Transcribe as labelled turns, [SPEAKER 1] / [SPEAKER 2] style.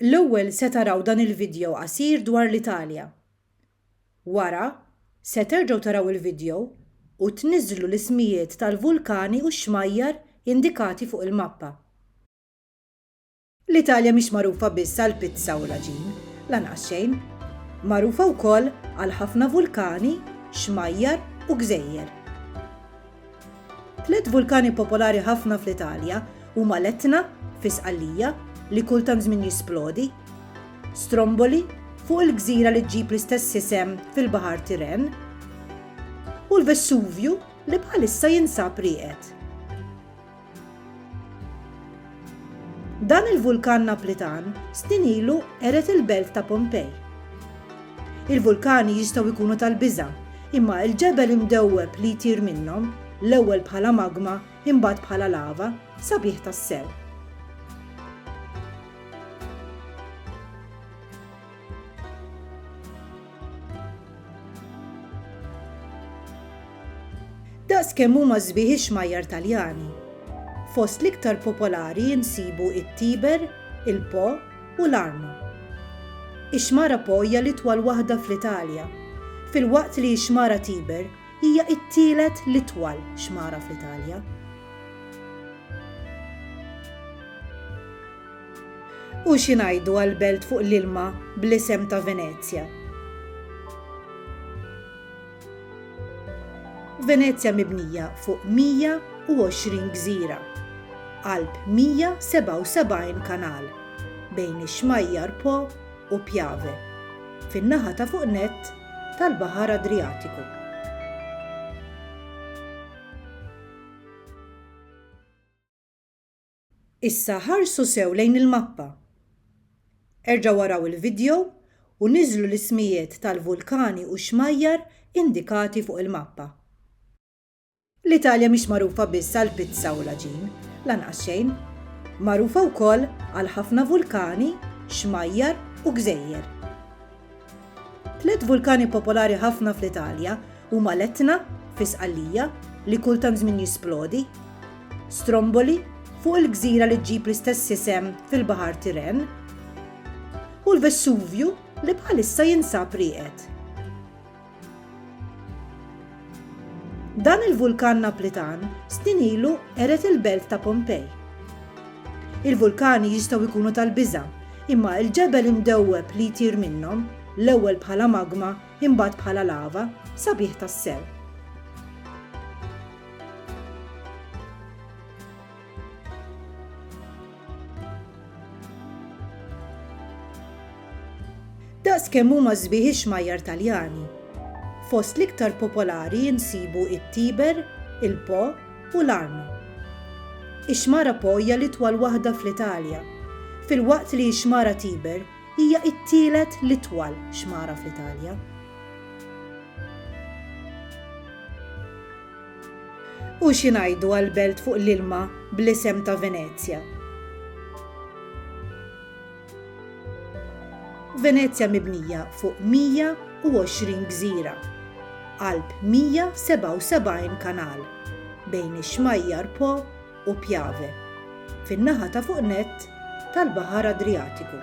[SPEAKER 1] L-ewwel se taraw dan il-vidjow qasir dwar l-Italja. Wara, se terġgħu taraw il-vidjow u tniżżlu l-ismijiet tal-vulkani u x-xmajjar indikati fuq il-mappa. L-Italja mhix magħrufa biss għall-pizza u l-għaġin, lanqas xejn. Magħrufa wkoll għal ħafna vulkani, xmajjar u gżejjer. Tliet vulkani popolari ħafna fl-Italja huma l-Etna, fi Sqallija, li kull tant żmien jisplodi, Stromboli, fuq il-gżira li ġġib l-istess isem fil-Baħar Tiren, u l-Vesuvju li bħalissa jinsab rieqed. Dan il-vulkan Naplitan snin ilu qered il-belt ta' Pompej. Il-vulkani jistgħu jkunu tal-biża', imma l-ġebel imdewweb li jtir minnhom, l-ewwel bħala magma imbagħad bħala lava, sabiħ tassew. Daqs kemm huma sbieħ ix-xmajjar Taljani. Fost l-iktar popolari nsibu it-Tiber, il-Po u l-Arno. Ix-xmara Po hija l-itwal waħda fl-Italja, filwaqt li x-xmara Tiber hija t-tielet l-itwal xmara fl-Italja. U xi ngħidu għal belt fuq l-ilma bl-isem ta' Venezja? Venezja mibnija fuq 120 gżira, qalb 177 kanal, bejn ix-xmajjar Po u Piave, fin-naħa ta' fuq nett tal-Baħar Adrijatiku. Issa ħarsu sew lejn il-mappa. Erġgħu araw il-vidjow u niżżlu l-ismijiet tal-vulkani u xmajjar indikati fuq il-mappa. L-Italja mhix magħrufa biss għall-pizza u l-għaġin, lanqas xejn. Magħrufa wkoll għal ħafna vulkani, xmajjar u gżejjer. Tliet vulkani popolari ħafna fl-Italja huma l-Etna, fi Sqallija, li kull tant żmien jisplodi, Stromboli, fuq il-gżira li ġġib l-istess isem fil-Baħar Tiren, u l-Vesuvju li bħalissa jinsab rieqed. Dan il-vulkan Naplitan snin ilu qered il-belt ta' Pompej. Il-vulkani jistgħu jkunu tal-biża', imma l-ġebel imdewweb li jtir minnhom, l-ewwel bħala magma imbagħad bħala lava, sabiħ tassew. Daqs kemm huma sbieħ ix-xmajjar Taljani. Fost l-iktar popolari insibu it-Tiber, il-Po u l-Arno. Ix-xmara Po hija l-itwal waħda fl-Italja, filwaqt li x-xmara Tiber hija t-tielet l-itwal xmara fl-Italja. U xi ngħidu għall-belt fuq l-ilma bl-isem ta' Venezja? Venezja mibnija fuq 120 gżira, qalb 177 kanal, bejn ix-xmajjar Po u Piave, fin-naħa ta' fuq nett tal-Baħar Adrijatiku.